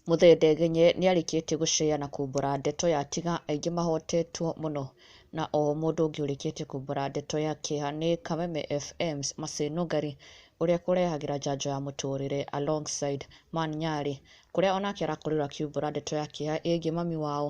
Muthee Ndegenye nĩarĩkĩtie gũceya na kumbũra ndeto ya tiga aingĩ mahotetwo mũno na o mũndũ ũngĩ ũrĩkĩtie kumbũra ndeto ya kĩeha nĩ Kameme FM's Mercy Nũngari ũrĩa kũrehagĩra njanjo ya mũtũrĩre alongside Man Nyarĩ kũrĩa onake arakorirwo akiumbũra ndeto ya kĩeha ĩgiĩ mami wao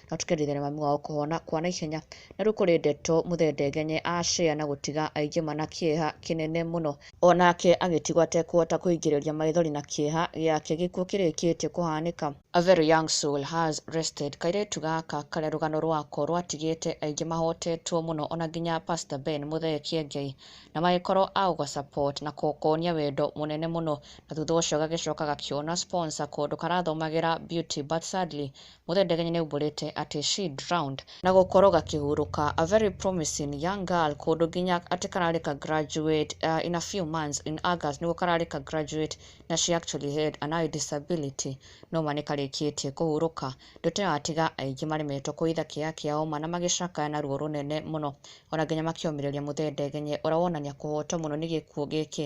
na tũkerĩthĩria mami wao kũhona kwa naihenya, na rĩu kũrĩ ndeto mũthendengenye acĩa na gũtiga aingĩ mana kĩeha kĩnene mũno. O nake agĩtigwo atekũhota kũingĩrĩria maithori na kĩeha gĩake gĩkuũ kĩrĩkĩtie kũhanĩka. A very young soul has rested kairĩtu gaka karĩa rũgano rwako rwatigĩte aingĩ mahotetwo mũno ona nginya pastor Ben Muthee Kiengei na magĩkorwo a gũga support na kũkonia wendo mũnene mũno na thutha ũcio gagĩcoka gakĩona sponsor kũndũ karathomagĩra beauty but sadly Mũthendegenyi nĩaumbũrĩte atĩ she drowned na gũkorwo gakĩhurũka a very promising young girl kũndũ nginya atĩ kararĩ ka graduate uh, in a few months in August nĩguo kararĩ ka graduate na she actually had an eye disability no ma nĩkarĩkĩtie kũhurũka ndoto ĩyo atiga aingĩ maremetwo kũitha kĩeya kĩa ũma na magĩcakaya na ruo rũnene mũno ona nginya makĩũmĩrĩria Mũthendegenye ũrĩa wonania kũhotwo mũno nĩ gĩkuũ gĩkĩ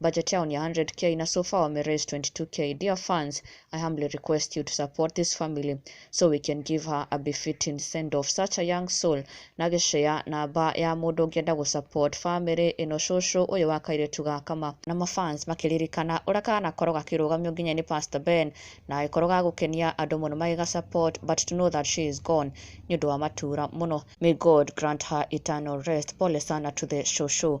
Budget yao ni 100k na so far wame raise 22k. Dear fans, I humbly request you to support this family so we can give her a befitting send off. Such a young soul. Na gĩcea namba ya mũndũ ũngĩenda gũ support family ĩno cũcũ ũyũ wa kairĩtu ga kama. Na ma fans makĩririkana ũrĩa kanakorwo gakĩrũgamio nginya nĩ Pastor Ben na gagĩkorwo ga gũkenia andũ mũno magĩga support but to know that she is gone nĩ ũndũ wa matura mũno. May God grant her eternal rest. Pole sana to the cũcũ.